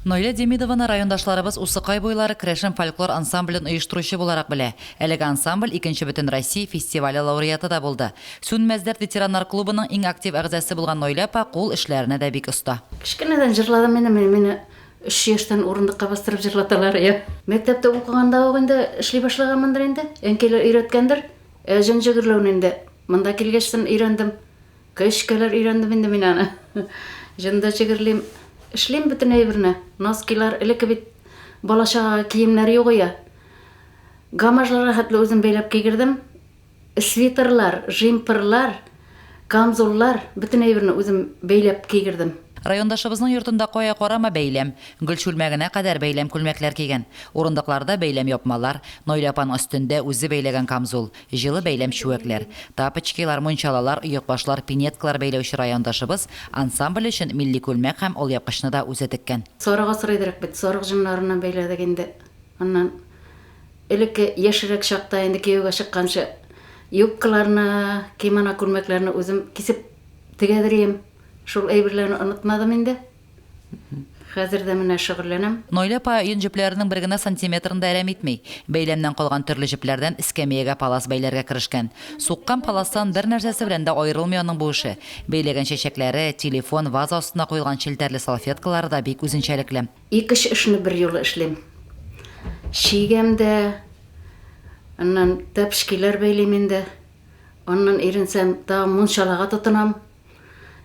Наилә Демидованы райондашларыбыз Усыкай буйлары керәшен фольклор ансамблен оештыручы буларак белә. Әлеге ансамбль икенче Бөтенроссия фестивале лауреаты да булды. Сүнмәс дәрт ветераннар клубының иң актив әгъзасы булган Наилә апа кул эшләренә дә бик оста. Кечкенәдән җырладым инде мин, мине өч яшьтән урындыкка бастырып җырлаталар иде. Мәктәптә укыганда ук инде эшли башлаганмындыр инде, әнкәйләр өйрәткәндер. Ә җенҗе гөрләүне инде монда килгәчтен өйрәндем. Көч кәләр өйрәндем инде мин аны. Җында чегерлим, эшлим бөтен әйберне. Носкилар элекке бит балачагага киемнәр югыя. Гамажларга хәтле үзем бәйләп кигердем. Свитерлар, жимперлар, камзуллар, бөтен әйберне үзем бәйләп кигердем. Райондашыбызның йортында кая карама бәйләм. Гөл чүлмәгенә кадәр бәйләм күлмәкләр кигән. Урындыкларда бәйләм япмалар, Наилә апаның өстендә үзе бәйләгән камзул, Җылы бәйләм чүәкләр, тапочкилар, мунчалалар, оекбашлар, пинеткалар бәйләүче райондашыбыз ансамбль өчен милли күлмәк һәм алъяпкычны да үзе теккән. Сарык асрыйдырык бит, сарык җоннарыннан бәйләдек инде. Аннан элекке яшьрәк чакта инде кияүгә чыкканчы юбкаларны, кимоно күлмәкләрне үзем кисеп тегәдер идем. Шул әйберләрне онытмадым инде. Хәзер дә менә шөгыльләнәм. Наилә апа йон җепләренең бер генә сантиметрын да әрәм итми. Бәйләмнән калган төрле җепләрдән эскәмиягә палас бәйләргә керешкән. Суккан паластан бер нәрсәсе белән дә аерылмый аның бу эше. Бәйләгән чәчәкләре, телефон, ваза астына куелган челтәрле салфеткалары да бик үзенчәлекле. Ике-өч эшне берьюлы эшлим. Чигәм дә, аннан тәпчкиләр бәйлим инде. Аннан иренсәм, тагын мунчалага тотынам.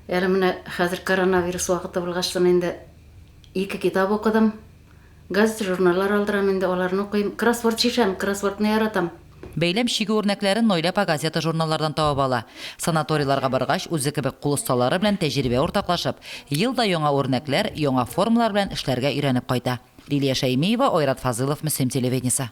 Әле менә хәзер коронавирус вакыты булгачтын инде ике китап укыдым. Газет, журналлар алдырам инде, аларны укыйм. Кроссворд чишәм, кроссвордны яратам. Бәйләм чигү үрнәкләрен Наилә апа газета-журналлардан табып ала. Санаторийларга баргач, үзе кебек кул осталары белән тәҗрибә уртаклашып, ел да яңа үрнәкләр, яңа формалар белән эшләргә өйрәнеп кайта. Лилия Шәймиева, Айрат Фазылов, Мөслим телевидениесе.